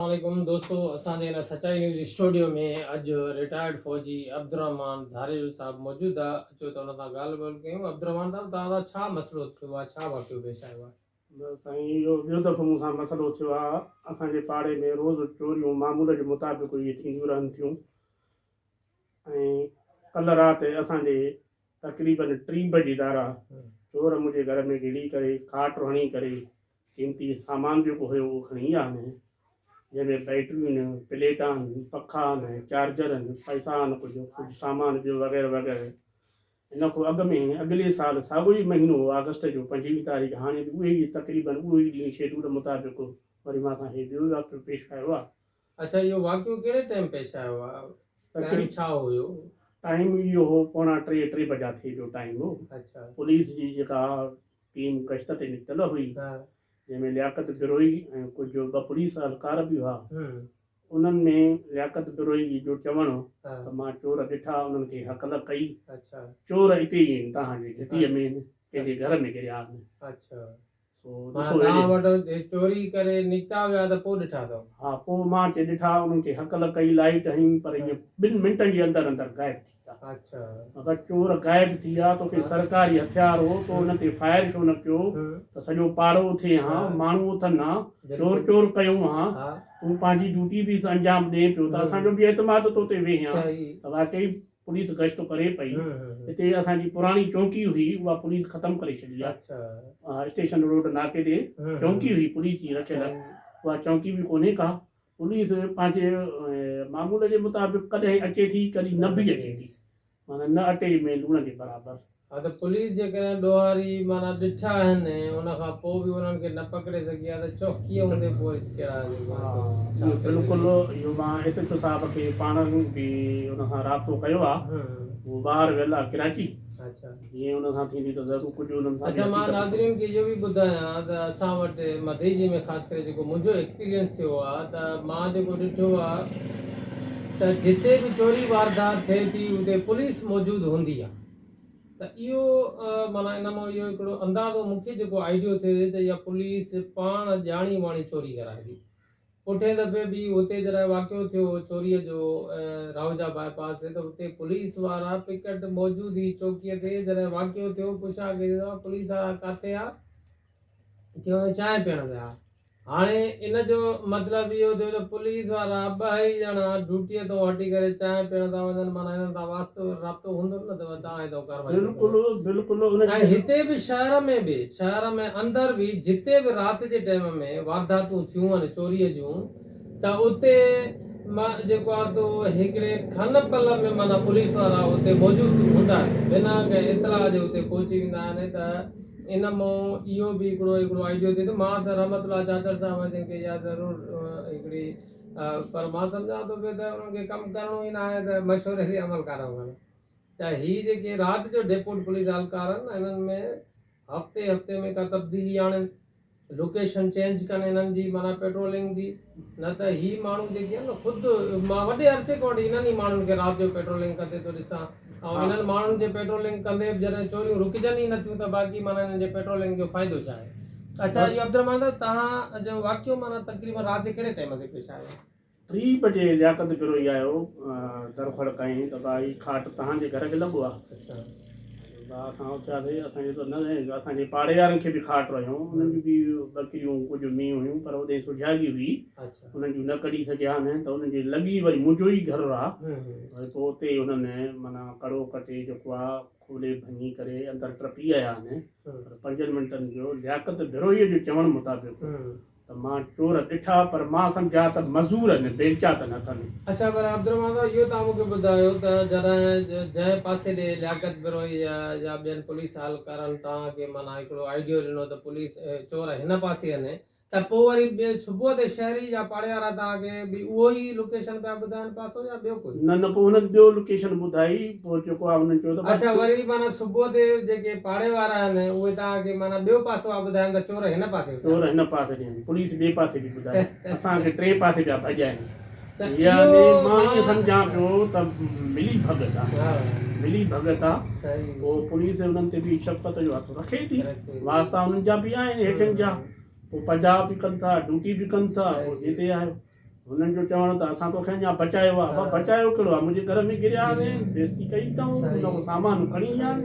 السلام عليڪم دوستو اسان جي هن سچائي نيوز اسٽوڊيو ۾ اڄ رٽائرڊ فوجي عبدالرحمان ڌاريجو صاحب موجود آ اچو ته ان سان ڳالهه ٻولهه ڪيون عبدالرحمان صاحب توهان سان ڇا مسئلو ٿيو آ ڇا واقعو پيش آيو آ. بس سائين اهو ٻيو دفعو مون سان مسئلو ٿيو آ اسان جي پاڙي ۾ روز چوريون معمول جي مطابق اهي ٿينديون رهن ٿيون ۽ ڪلهه رات اسان جي تقريبن ٽي بجي ڌارا چور منهنجي گهر ۾ گهڙي ڪري کاٽ هڻي ڪري قيمتي سامان جيڪو هيو اهو کڻي ايندا آهن، جنهن ۾ بيٽريون آهن، پليٽان آهن، پکا آهن، چارجر آهن، پئسا آهن، ڪجهه ڪجهه سامان ٻيو وغيره وغيره. ان کان اڳ ۾ اڳلي سال ساڳيو ئي مهينو هو آگسٽ جو پنجويهه تاريخ هاڻي به اهي ئي تقريبن اهو ئي ڏينهن شيڊول مطابق وري مان سان هي ٻيو واقعو پيش آيو آهي. اڇا اهو واقعو ڪهڙي ٽائيم پيش آيو آ ٽائيم ڇا هيو. ٽائيم اهو هو پوڻا ٽي ٽي بجا ٿي جو ٽائيم هو پوليس جي جيڪا ٽيم گشت تي نڪتل هئي جنهن ۾ لياقت بروهي ۽ ڪجهه ٻه پوليس اهلڪار به هئا انهن ۾ لياقت بروهي جي جو چوڻ هو ته مان چور ڏٺا انهن کي هڪل ڪئي چور اتي ئي آهن توهان جي گهٽيء ۾ آهن ڪنهن جي گهر ۾ گريا آهن. مان توهان وٽ چوري ڪري نڪتا ويا ته پوء ڏٺا اٿو؟ ها پوء مان اچي ڏٺا، انهن کي هڪل ڪئي لائيٽ هنيم پر اهي ٻن منٽن جي اندر اندر غائب ٿي ويا. اگر چور غائب ٿي ويا توکي سرڪاري هٿيار هو تو انهن تي فائر ڇو نه ڪيو ته سڄو پاڙو اٿئي ها، ماڻهو اٿن ها، چور چور ڪيون ها، تون پنهنجي ڊيوٽي به انجام ڏئين پيو ته اسان جو به اعتماد تو تي ويهي ها ته واقعي پوليس گشت ڪري پئي هتي اسان جي پراڻي چونڪي هئي اها پوليس ختم ڪري ڇڏي آ اسٽيشن روڊ ناڪي تي چونڪي هئي پوليس جي رکيل اها چونڪي به ڪونهي ڪا پوليس پنهنجي معمول جي مطابق ڪڏهن اچي ٿي ڪڏهن نه به اچي ٿي معنيٰ نه اٽي ۾ لوڻ جي برابر ها ته پوليس جيڪڏهن ڏوهاري معنيٰ ڏٺا آهن ۽ ان کان پوء به انهن کي نه پڪڙي سگهي ها ته چوڪيء هوندي پوء وري ڪهڙا عزيم ماڻهو ٿو ڇا ڪري سگهي. بلڪل اهو مان ايس ايڇ او صاحب کي پاڻ به ان سان رابطو ڪيو آ هو ٻاهر ويل آ ڪراچي جيئن ان سان ٿيندي ته ضرور ڪجهه انهن سان به اڇا مان ناظرين کي اهو به ٻڌايان ته اسان وٽ مديجي ۾ خاص ڪري جيڪو منهنجو ايڪسپيرينس ٿيو آ ته مان جيڪو ڏٺو آ ته جتي به چوري واردات ٿئي ٿي اتي پوليس موجود هوندي آ ته اهو معنيٰ ان مان اهو هڪڙو اندازو مون کي جيڪو آئيڊيو ٿيو ته اها پوليس پاڻ ڄاڻي واڻي چوري ڪرائبي. پٺئين دفعي به هتي جڏهن واقعو ٿيو هو چوريء جو راهوجا باء پاس تي ته هتي پوليس وارا پڪٽ موجود هئي چوڪيء تي جڏهن واقعو ٿيو پڇا ڪئي ته پوليس وارا ڪاٿي هئا؟ چيو ته چانهه پيئڻ ويا ها. هاڻي ان جو مطلب اهو ٿيو ته پوليس وارا ٻه ئي ڄڻا ڊوٽيء تان هٽي ڪري چانهه پيئڻ ٿا وڃن، معنيٰ هنن سان واسطو رابطو هوندو نه ته وري توهان تان ڪارروائي ٿي ڪري. ۽ هتي به شهر ۾ به، شهر ۾ اندر به جتي به رات جي ٽيم ۾ وارداتون ٿيون آهن چوريء جون، ته اتي مان جيڪو آ سو هڪڙي کن پل ۾ معنيٰ پوليس وارا اتي موجود هوندا آهن بنا ڪنهن اطلاع جي اتي پهچي ويندا آهن ته ان مون اهو به هڪڙو هڪڙو آئيڊيو ٿي ته مان ته رحمت الله چاچڙ صاحب جن کي اها ضرور هڪڙي پر مان سمجهان ٿو پيو ته انهن کي ڪم ڪرڻو ئي ناهي ته مشوري تي عمل ڪرڻ گهرجي ته هي جيڪي رات جو ڊيپوٽ پوليس اهلڪار آهن انهن ۾ هفتي هفتي ۾ ڪا تبديلي آڻين لوڪيشن چينج ڪن انهن جي معنيٰ پيٽرولنگ جي نه ته هي ماڻهو جيڪي آهن نه خود مان وڏي عرصي کان وٺي انهن ئي ماڻهن کي رات جو پيٽرولنگ ڪندي ٿو ڏسان ۽ انهن ماڻهن جي پيٽرولنگ ڪندي به جڏهن چوريون رڪجن ئي نٿيون ته باقي معنيٰ انهن جي پيٽرولنگ جو فائدو ڇا آهي اڇا اهو عبدالرحمان صاحب توهان جو واقعو معنيٰ تقريبن رات جي ڪهڙي ٽائيم تي پيش آيو ٽي بجي لياقت گروهي آيو در کڙ ڪيائين ته ڀاء هي کاٽ توهان جي گهر کي لڳو آ. ڀاء اسان اٿياسين اسان جي ته نه سائين اسان جي پاڙي وارن کي به کاٽ رهيون انهن جون به ٻڪريون ڪجهه مينهن هيون پر اوڏهين سجهاڳي هئي انهن جون نه ڪڍي سگهيانه ته انهن جي لڳي وري منهنجو ئي گهر آ وري پوء اتي ئي انهن معنيٰ ڪڙو ڪٽي جيڪو آ کولي ڀڃي ڪري اندر ٽپي آيا آهن پر پنجن منٽن جو لياقت گروهي جو چوڻ مطابق ته مان چور ڏٺا پر مان سمجهيا ته مزور هن بيلچا ته نه اٿن. اڇا پر عبدالرحمان صاحب اهو توهان مون کي ٻڌايو ته جڏهن جنهن پاسي ڏي لياقت بروهي يا يا ٻين پوليس اهلڪارن توهان کي معنيٰ هڪڙو آئيڊيو ڏنو ته پوليس چور هن پاسي هني ته پوء وري ٻئي صبح تي شهري يا پاڙي وارا توهان کي به اهو ئي لوڪيشن پيا ٻڌائن پاسو يا ٻيو ڪوئي نه نه پوء هنن ٻيو لوڪيشن ٻڌائي. پوء جيڪو آهي انهن چيو ته بس. اڇا وري معنيٰ صبح تي جيڪي پاڙي وارا آهن اهي توهان کي معنيٰ ٻيو پاسو آ ٻڌاين ته چور هن پاسي وڌا چور هن پاسي وڌا آهن پوليس ٻئي پاسي به ٻڌا اسان کي ٽئين پاسي پيا ڀڄائين يعني مان ائين سمجهان پيو ته ملي ڀڳت آ ملي ڀڳت آ پوء پوليس انهن تي به شفقت جو هٿ رکي ٿي واسطا انهن جا به آهن هيٺين جا پوء پجاء به ڪن ٿا ڊوٽي به ڪن ٿا جتي آهيو هنن جو چوڻ هو ته اسان توکي اڃا بچايو آهي. ابا بچايو ڪهڙو آهي، منهنجي گهر ۾ گريا آهين، بيعزتي ڪئي اٿئون، ان ڪو سامان کڻي ويا آهن،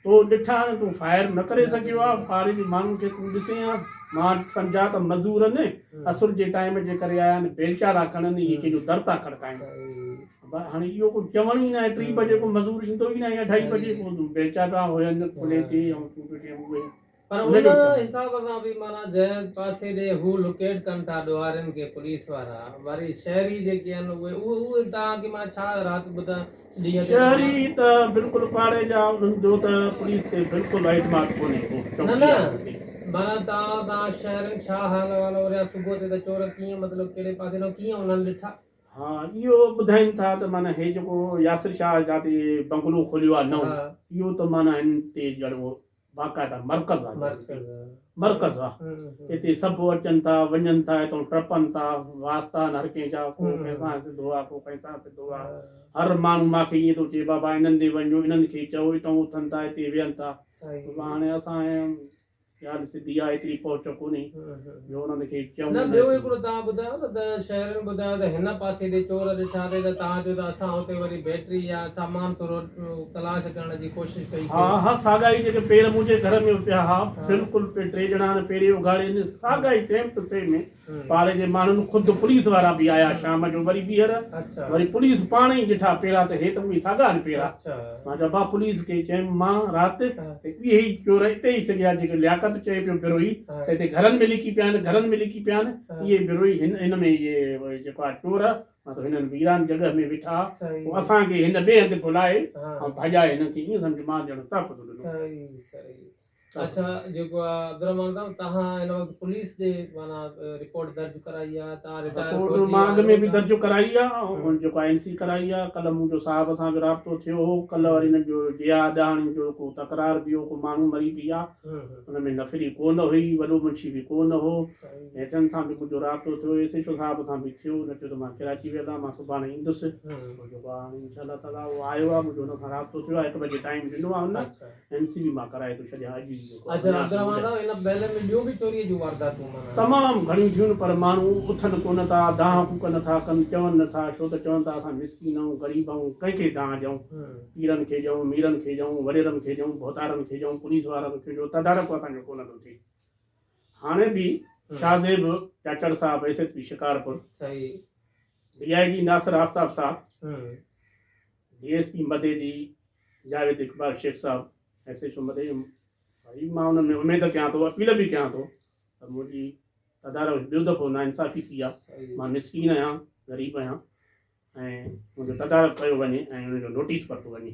تو ڏٺا آهن، تون فائر نه ڪري سگهيو آهين، پاڙي جي ماڻهن کي تون ڏسين ها، مان سمجهان ته مزورن عصر جي ٽائيم جي ڪري آيا آهن، بيلچا ٿا کڻن، اهي ڪنهن جو در ٿا کڙڪائين. ابا هاڻي اهو ڪو چوڻ ئي ناهي، ٽي بجي ڪو مزور ايندو ئي ناهي، اڍائي بجي ڪو بيلچا پيا هجن کلي تي ۽ تون پيو چئين اهي. پر ان حساب سان به معنيٰ جنهن پاسي ڏي هو لوڪيٽ ڪن ٿا ڏوهارين کي پوليس وارا وري شهري جيڪي آهن اهي اهي تان کي معنيٰ ڇا رات ٻڌا ڏينهن تي شهري ته بلڪل پاڙي جا انهن جو ته پوليس تي بلڪل اعتماد ڪونهي هو چوڪيدار انهن تي. معنيٰ تان تان شهرين ڇا حال احوال اوريا صبح تي ته چور ڪيئن مطلب ڪهڙي پاسي ڏانهن ڪيئن انهن ڏٺا. ها اهو ٻڌائين ٿا ته معنيٰ هي جيڪو ياسر شاهه جاتي بنگلو کوليو آهي نئون اهو ته معنيٰ هن تي ڄڻ باقاعده مرڪز آ مرڪز آ اتي سڀ اچن ٿا وڃن ٿا اتو ٽپن ٿا واسطا آهن هر ڪنهن جا ڪو ڪنهن سان سڌو آ ڪو ڪنهن سان سڌو آ هر ماڻهو ماکي ائين ٿو چئي بابا انهن ڏي وڃو انهن کي چئو اتو اٿن ٿا اتي ويهن ٿا هاڻي اسان ڳالهه سڌي آ ايتري پهچ ڪونهي جو انهن کي چم نه ٻيو ٿيندو. هڪڙو تان ٻڌايو نه ته شهرين ٻڌايو ته هن پاسي تي چور ڏٺا ٿي ته تان چو ته اسان اتي وري بيٽري يا سامان ٿورو تلاش ڪرڻ جي ڪوشش ڪئي سي. ها ها ساڳا ئي جيڪي پير منهنجي گهر ۾ پيا ها بلڪل پي ٽي ڄڻا هن پيري اگهاڙي ني ساڳا ئي سيم ٽو سيم هي پاڙي جي ماڻهن خود پوليس وارا به آيا شام جو وري ٻيهر وري پوليس پاڻ ئي ڏٺا پيرا ته هي ته اوهي ساڳا آهن پيرا. مان جبا پوليس کي چيم مان رات اهي ئي چور اتي ئي سگهيا جيڪي لياقت چئي پيو بروهي ته هتي گهرن ۾ لڪي پيا آهن گهرن ۾ لڪي پيا آهن اهي بروهي هن هن ۾ اهي جيڪو آهي چور مطلب هنن ويران جڳهه ۾ ويٺا پوء اسان کي هن ٻئي هنڌ گهلائي ۽ ڀڄائي هنن کي ائين سمجهه مان ڄڻ تحفظ ڏنو. اچا جيڪو آ عبدالرحمان صاحب تهان هن وقت پوليس ڏي معنيٰ رپورٽ درج ڪرائي آ تهان رٽائر رپورٽ فوجي مان اڳ ۾ آهيو به تهان درج ڪرائي آ ۽ جيڪو آ اين سي ڪرائي آ ڪلهه منهنجو صاحب سان به رابطو ٿيو هو ڪلهه وري هنن جو ڊيا ڏهاڙين جو ڪو تڪرار به هو ڪو ماڻهو مري به آ ان ۾ نفري ڪو نه هئي وڏو منشي به ڪو نه هو ۽ تن سان به منهنجو رابطو ٿيو ايس ايڇ او صاحب سان به ٿيو هن چيو ته مان ڪراچي ويل آ مان سڀاڻي ايندس ۽ جيڪو آ هاڻي انشاء الله تعاليٰ هو آيو آ منهنجو هن سان رابطو ٿيو آ هڪ بجي ٽائيم ڏنو آ هن ايم سي بي مان ڪرائي ٿو ڇڏيان اڄ ئي جيڪو تمام گهڻيون ٿيون پر ماڻهو اٿن ڪونه ٿا دانهن ڦوڪ نه ٿا ڪن چون نه ٿا ڇو ته چون ٿا اسان مسڪين آهيون غريب آهيون ڪنهن کي دانهن ڏيون پيرن کي ڏيون ميرن کي ڏيون وڏيرن کي ڏيون ڀوتارن کي ڏيون پوليس وارن کي ڏيون تدارڪ اسان جو ڪونه ٿو ٿئي هاڻي به شاهه زيب چاچڙ صاحب S S P Shikarpur D I G Nasir Aftab صاحب D S P Madeji Javed Iqbal Shaikh صاحب S H O Madeji ڀائي مان انهن ۾ اميد ڪيان ٿو اپيل به ڪيان ٿو ته منهنجي تدارڪ ٻيو دفعو نا انصافي ٿي آهي مان مسڪين آهيان غريب آهيان ۽ منهنجو تدارڪ ڪيو وڃي ۽ ان جو نوٽيس ورتو وڃي.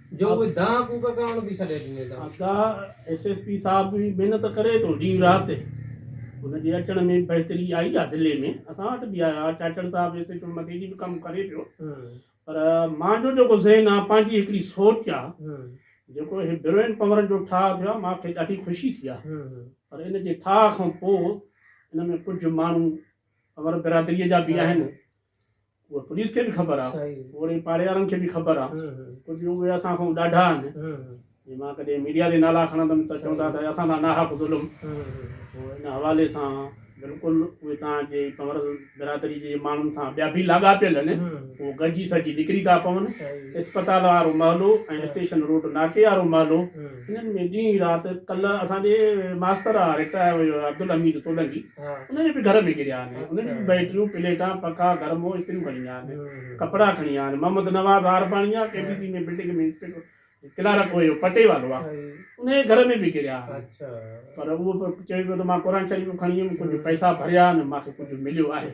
جو اهي دانهن ڪوڪ ڪرڻ به ڇڏي ڏني اٿن. آقا ايس ايس پي صاحب به محنت ڪري ٿو ڏينهن رات ان جي اچڻ ۾ بهتري آئي آ ضلعي ۾ اسان وٽ به آيو آ چاچڙ صاحب ايس ايڇ او مٿي جي به ڪم ڪري پيو پر مانجو جيڪو ذهن آ پنهنجي هڪڙي سوچ آ جيڪو هي بروين پنورن جو ٺاهه ٿيو آ مانکي ڏاڍي خوشي ٿي آ پر ان جي ٺاهه کان پو ان ۾ ڪجهه ماڻهو پنور برادري جا به آهن اهو پوليس کي به خبر آهي اوڙي پاڙيوارن کي به خبر آهي ڪجهه اهي اسان کان ڏاڍا آهن جي مان ڪڏهن ميڊيا تي نالا کڻندم ته چوندا ته اسان سان ناحق ظلم پوء ان حوالي سان بلڪل اهي تان جي پنور برادري جي ماڻهن سان ٻيا به لاڳاپيل آهن اهو گڏجي سڄي نڪري ٿا پون اسپتال وارو محلو ۽ اسٽيشن روڊ ناڪي وارو محلو انهن ۾ ڏينهن رات ڪلهه اسان جي ماستر آهي رٽائر عبدالحميد سولنگي انهن جي به گهر ۾ ڪريا آهن، انهن جون به بيٽريون، پليٽان، پکا، گرمو، استريون کڻي ويا آهن، ڪپڙا کڻي ويا آهن، محمد نواز آرپاڻي آ، K B C ۾ building ۾ inspector, clerk هو اهو پٽي والو آ، انهن جي گهر ۾ به ڪريا آهن، پر اهو به چوي پيو ته مان قرآن شريف به کڻي ويم، ڪجهه پئسا ڀريا آهن، مان کي ڪجهه مليو آهي،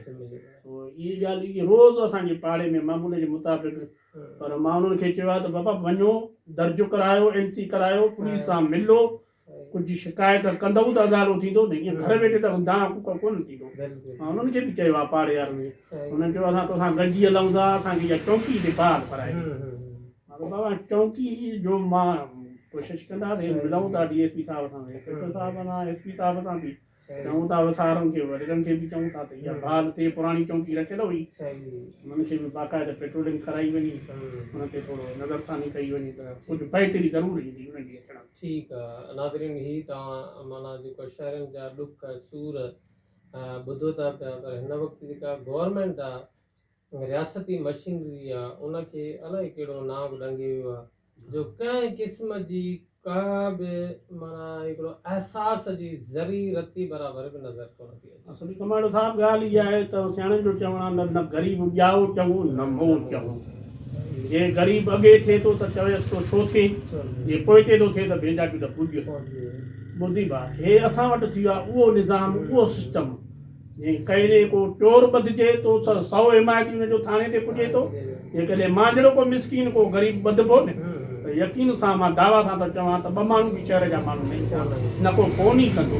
سو اهي ڳالهه اهي روز اسان جي پاڙي ۾ معمول جي مطابق، پر مان انهن کي چيو آهي ته بابا وڃو درج ڪرايو، اين سي ڪرايو، پوليس سان ملو، ڪجهه شڪايت ڪندؤ ته ازالو ٿيندو نه ائين گهر ويٺي ته دانهن ڪوڪڙ ڪونه ٿيندو مان انهن کي به چيو آهي پاڙي وارن کي انهن چيو اسان توسان گڏجي هلون ٿا اسان کي اها چونڪي هتي بحال ڪرائي ڏي مان چيو بابا چونڪي جو مان ڪوشش ڪنداسين ملون ٿا ڊي ايس پي صاحب سان انسپيڪٽر صاحب سان ايس پي صاحب سان به چئون ٿا وسارن کي وڏيرن کي به چئون ٿا ته اها بال تي پراڻي چونڪي رکيل هئي انهن کي به باقاعده پيٽرولنگ ڪرائي وڃي انهن تي ٿورو نظر ثاني ڪئي وڃي ته ڪجهه بهتري ضرور ايندي انهن جي اچڻ ۾. ٺيڪ آ ناظرين هي توهان معنيٰ جيڪو شهرين جا ڏک سور ٻڌو ٿا پيا پر هن وقت جيڪا گورنمينٽ آ رياستي مشينري يا ان کي الائي ڪهڙو نانء به ڏنگي ويو آهي جو ڪنهن قسم جي ڪا به معنيٰ هڪڙو احساس جي ذري رتي برابر به نظر ڪونه ٿي اچي. اصل ڪماڻو صاحب ڳالهه اها آهي ته سياڻن جو چوڻ آهي نه نه غريب ڄائو چڱو نه مئو چڱو. جي غريب اڳي ٿئي ٿو ته چويس ٿو ڇو ٿئي جي پوئتي ٿو ٿئي ته ڀينجاٽيون ته پڄ. مردي ڀاء هي اسان وٽ ٿيو آهي اهو نظام اهو سسٽم. جي ڪيري ڪو چور ٻڌجي تو سان سؤ حمايتي ان جو ٿاڻي تي پڄي ٿو جيڪڏهن مان جهڙو ڪو مسڪين ڪو غريب ٻڌبو نه ته يقين سان مان دعويٰ سان ٿو چوان ته ٻه ماڻهو به شهر جا ماڻهو نه ايندا نه ڪو فون ئي ڪندو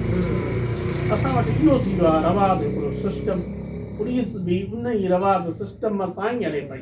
اسان وٽ اهو ٿي ويو آهي رواج هڪڙو سسٽم پوليس به انهي رواج سسٽم سان ئي هلي پئي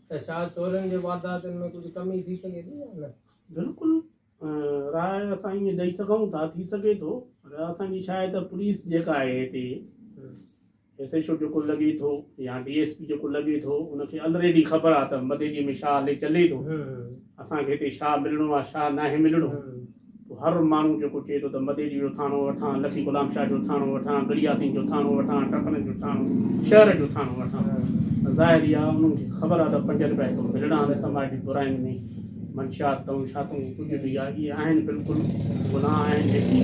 ته ڇا چورين جي وارداتن ۾ ڪجهه ڪمي ٿي سگهي ٿي يا نه؟ بلڪل راء اسان ائين ڏئي سگهون ٿا ٿي سگهي ٿو پر اسان جي ڇاهي ته پوليس جيڪا آهي هتي ايس ايڇ او جيڪو لڳي ٿو يا ڊي ايس پي جيڪو لڳي ٿو ان کي الريڊي خبر آهي ته مديري ۾ ڇا هلي چلي ٿو اسان کي هتي ڇا ملڻو آهي ڇا ناهي ملڻو هر ماڻهو جيڪو چئي ٿو ته مديجي جو ٿاڻو وٺان، لکي غلام شاهه جو ٿاڻو وٺان، گڙياسين جو ٿاڻو وٺان، ٽپن جو ٿاڻو، شهر جو ٿاڻو وٺان ته ظاهر ئي آ انهن کي خبر آ ته پنج رپيا هتو ملڻا آهن سماجي براين ۾ منشيات تون شاتون ڪجهه به آ اهي آهن بلڪل گناهه آهن جيڪي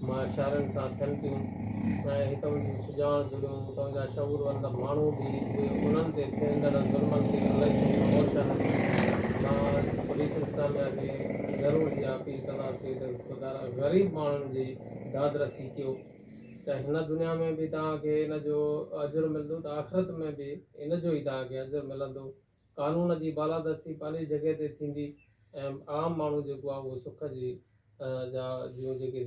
مان اشارن سان ٿين ٿيون ۽ هتون جون سڄاڻ ضلعون هتون جا شعوروندا ماڻهو به انهن تي ٿيندڙ ظلمن تي الائي ڪيترو هوش آهن. مان پوليس انتظاميا کي ضرور اها اپيل ڪنداسين ته خدا را غريب ماڻهن جي دادرسي ڪيو ته هن دنيا ۾ به توهان کي ان جو اجر ملندو ته آخرت ۾ به ان جو ئي توهان کي اجر ملندو. قانون جي بالادستي پنهنجي جڳهه تي ٿيندي ۽ عام ماڻهو جيڪو آهي اهو سک جي جا جون جيڪي.